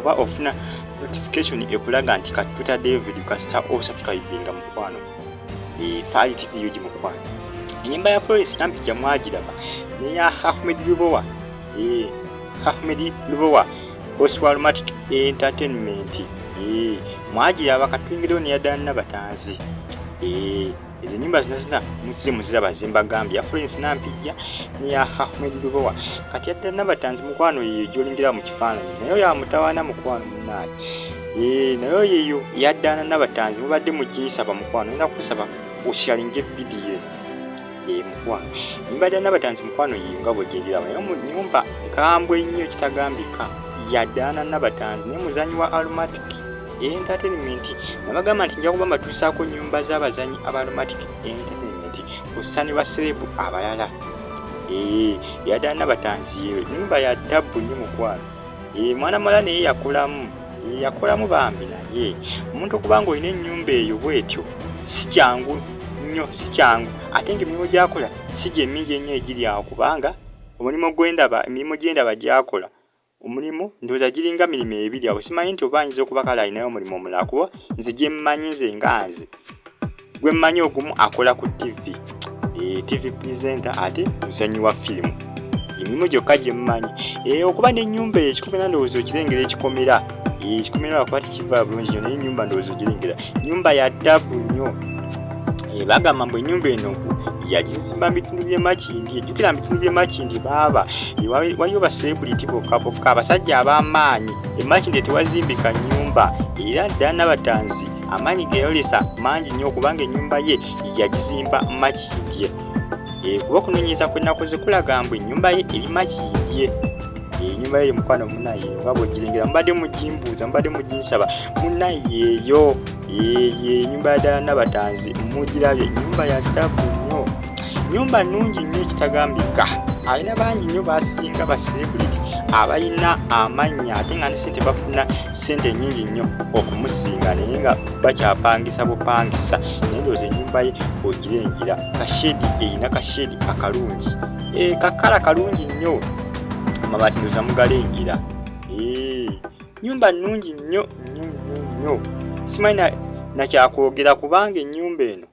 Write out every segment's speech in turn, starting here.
oba ofuna notification ekulaga nti kati tutaddeyo video kasita osubscribinga mukwano eh, faali tv yogi mukwano enyimba ya florence nampija mwagiraba neya ahmed lubowa eh, ahmed lubowa oswalmatic entertainment eh, mwagiraba katwingirewo neyaddala nabatanzi ezo enyumba zino zina muzze muziraba zembagambye afulence nampijja neya ahmed lubowa kati yadda nabatanzi mukwano yeyo gyolingira mu kifaananyi naye oyo amutawaana mukwano munaani ee naye oyo eyo yaddaana nabatanzi mubadde muginsaba mukwano ina kusaba oshalinga evidiyo ee mukwano mbadde nabatanzi mukwano yeyo nga bwegyegiraba naye munyumba nkambwe nnyo kitagambika yaddaana nabatanzi naye muzanyi wa aromatic entertainment nabagamba nti nja kuba mbatuusaako nyumba z'abazanyi abaromatic entertainment kusani ba serebu abalala ee yadaana batanziyewe nyumba ya tabbu nyo mukwano ee mwana mala naye yakolamu yakolamu bambi naye omuntu okuba nga olina enyumba eyo bwetyo si kyangu nnyo si kyangu ate nga emirimu gyakola si gyemingi ennyo egiri awo kubanga omulimu gwendaba emirimu gyendaba gyakola omulimu ndowooza giringa mirimu ebiri awo simanyi nti oba ayinza okuba kale alinayo omulimu omulala kuba nze gye mmanyi nze nga nze gwe mmanyi ogumu akola ku tivi eh, tivi presenta ate muzanyi wa firimu emirimu gyokka gye mmanyi eh, okuba n'ennyumba eyo ekikomera ndowooza okirengera ekikomera eh, ekikomera lwakuba tekiva bulungi nyo naye ennyumba ndowooza ogirengera nyumba ya ddabu nnyo Eh, bagamba mbu enyumba eno yagizimba mubitundu byemakindi ejjukira mubitundu byemakindi baaba eh, waliyo basekuliti bokka bokka abasajja ab'amaanyi emakindi tewazimbika nyumba era ddala nabatanzi amaanyi geyolesa mangi nnyo okubanga enyumba ye yagizimba makindye eh, kuba okunonyereza kwenakoze kulaga mbu enyumba ye eri makindye enyumba ye mukwano munaye oba bwegirengera mubadde mugimbuuza mubadde muginsaba munayeeyo Eee nyumba ya ddala Nabatanzi mugirabye nyumba ya ddabu nnyo nyumba nnungi nnyo ekitagambika alina bangi nnyo basinga baserebuliti abalina amannya ate nga nesente bafuna sente nyingi nnyo okumusinga naye nga bakyapangisa bupangisa naye ndowooza ennyumba ye ogira engira kashedi erina kashedi akalungi eh, kakala kalungi nnyo amabaati ndoza mugala engira nyumba nungi nnyo nnyo nnyo nnyo simanyi nakyakwogera kubanga enyumba eno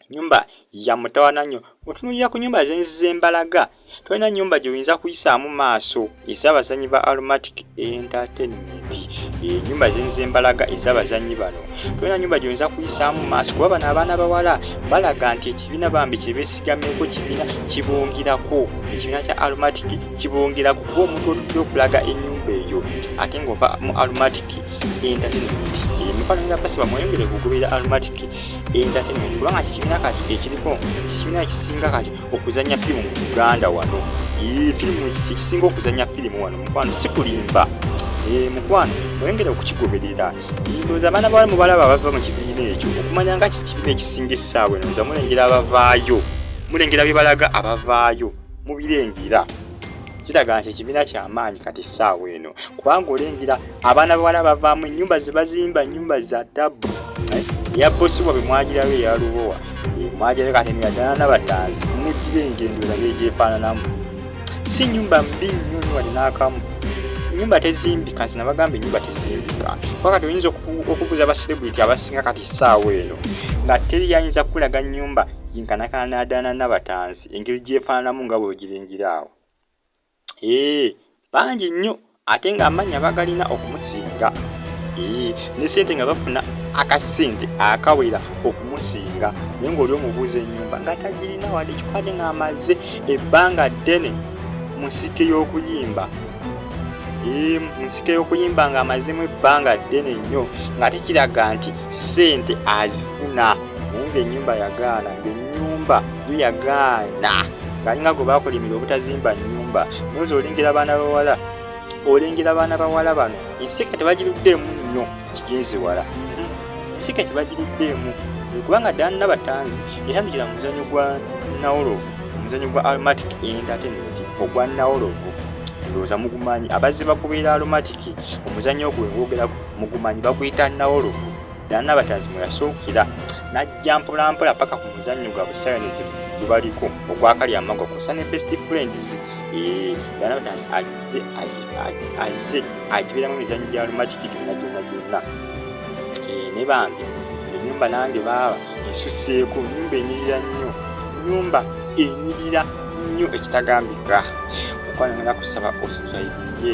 nyumba ya mutawana nnyo otunulira ku nyumba zenziza embalaga tolina nyumba gyeoyinza kuyisaamu maaso ezabazanyi ba aromatic entertainment enyumba zenziza embalaga ezabazanyi bano tolina nyumba gyoyinza kuyisaamu maaso kuba bano abaana bawala balaga nti ekibiina bambi kyebesigameko kibiina kibungirako ekibiina kya aromatic kibongera kukuba omuntu otujja okulaga enyumba eyo ate ngaova mu aromatic entertainment emifano nga basiba mweyongere kugoberera aromatic entertainment kubanga kikibiina kati ekiriko kikibiina ekisinga kati okuzanya firimu mu uganda wano firimu ekisinga okuzanya firimu wano mukwano sikulimba eh, mukwano mweyongere okukigoberera ndoza abaana bawala mubalaba abava mu kibiina ekyo okumanya nga kikibiina ekisinga essaawa eno nza mulengera abavaayo mulengera bye balaga abavaayo mubirengera kiraga nti ekibiina kyamaanyi kati essaawa eno kubanga olengera abaana bawala bavaamu ennyumba zebazimba ennyumba za tabbu eh, eya bosi wabwe mwagirayo eyalubowa eh, mwagirayo kati emyadana nabataano mugira engendo erabe egyefaananamu si nyumba mbi nnyo nyo wali n'akamu enyumba tezimbika nze nabagamba enyumba tezimbika kuba kati oyinza okubuza abaselebrity abasinga kati saawa eno nga teri yayinza kukulaga nyumba yinkanakana nadana nabatanzi engeri gyefaananamu nga bweogiringira awo ee bangi nnyo ate ng'amannya bagalina okumusinga ee ne sente nga bafuna akasente akawera okumusinga naye ng'oli omubuuza ennyumba nga tagirina wadde kikubadde ng'amaze ebbanga ddene mu nsike y'okuyimba ee mu nsike y'okuyimba ng'amazemu ebbanga ddene nnyo nga tekiraga nti sente azifuna nga enyumba yagaana nga enyumba yo yagaana ngalinga gwe bakulimira obutazimba nyumba noza olengera abaana bawala olengera abaana bawala bano ensika tebagiruddeemu nnyo kigenzi wala ensika tebagiruddeemu kubanga ddala nna batanzi etandikira mu muzanyo gwa nawolovu omuzanyo gwa aromatic entertainment ogwa nawolovu ndowooza mugumanyi abazze bakubeera aromatic omuzanyo ogwe ngwogera mugumanyi baguyita nawolovu Era Nabatanzi mwe yasuukira n'ajja mpolampola paka ku muzannyo gwa busayanisi gubaliko ogwakali amago kusa ne best friends eh, era Nabatanzi azze azze agibeeramu emizannyo gya lumakiki gyonna gyonna gyonna eh, ne bambi enyumba nange baaba esuseeko nyumba enyirira nnyo nyumba enyirira nnyo ekitagambika okwanaga kusaba osubscribe ye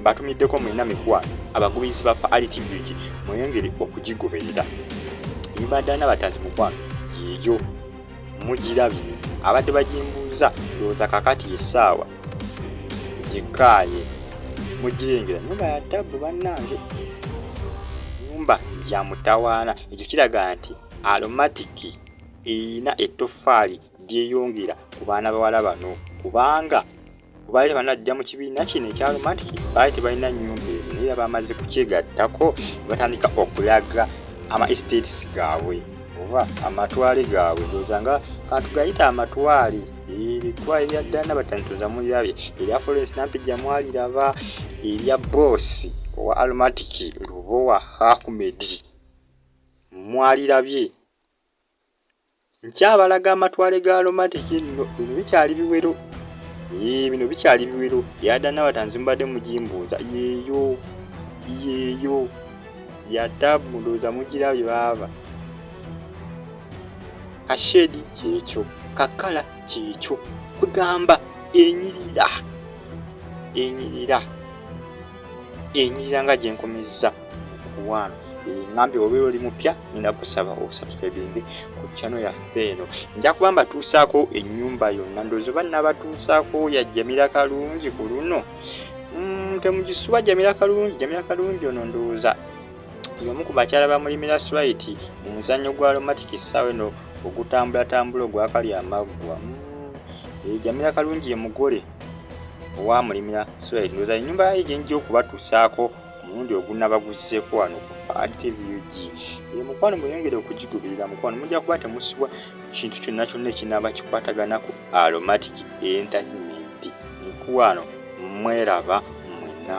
Mbatumiddeko mwena mikwano abagoberezi ba Faali TV nti mweyongere okugigoberera. Ibadana batanzi mukwano yeeyo mugirabye abadde bagimbuuza ndowooza kakati yessaawa gikaaye mugirengera nyumba ya tabbu bannange nyumba ya mutawaana ekyo kiraga nti alomatiki erina ettoffaali lyeyongera ku baana bawala bano kubanga ku baali banajja mu kibiina kino ekya romantic baali tebalina nyumba ezo naye bamaze kukyegattako batandika okulaga ama estates gaabwe oba amatwale gaabwe ndowooza nga kantu gayita amatwale ebitwale bya ddana batanitoza mulirabye erya florence nampijja mwaliraba erya boosi owa aromatic lubowa hakumedi mwalirabye nkyabalaga amatwale ga aromatic nno bino bikyali biwero yee bino bikyali biwero yadanabatanzi mubadde mugimbuuza yeeyo yeeyo yata mulooza mugirabye baaba kashedi kyekyo kakala kyekyo kugamba enyirira enyirira enyirira nga gyenkomezza okuwaano ngambye obeera oli mupya nina kusaba obusubscribinge ku chano yaffe eno nja kuba mbatuusaako ennyumba yonna ndoozi oba nabatuusaako ya jamira kalungi ku luno mm, temugisuba jamira kalungi jamira kalungi ono ndowooza yomu ku bakyala bamulimira switi mu muzannyo gwa lomatic essaawa eno ogutambulatambula ogwakali amaggwa mm, eh, jamira kalungi ye mugole owamulimira switi ndowooza ennyumba yaye gyenjja okubatuusaako omulundi ogunaba guzzeeko wano ku adpbug eyo mukwano muyongere okugigubirira mukwano mujja kuba temusubwa kintu kyonna kyonna ekinaaba kikwatagana ku aromatic entertainment mukwano mweraba mwena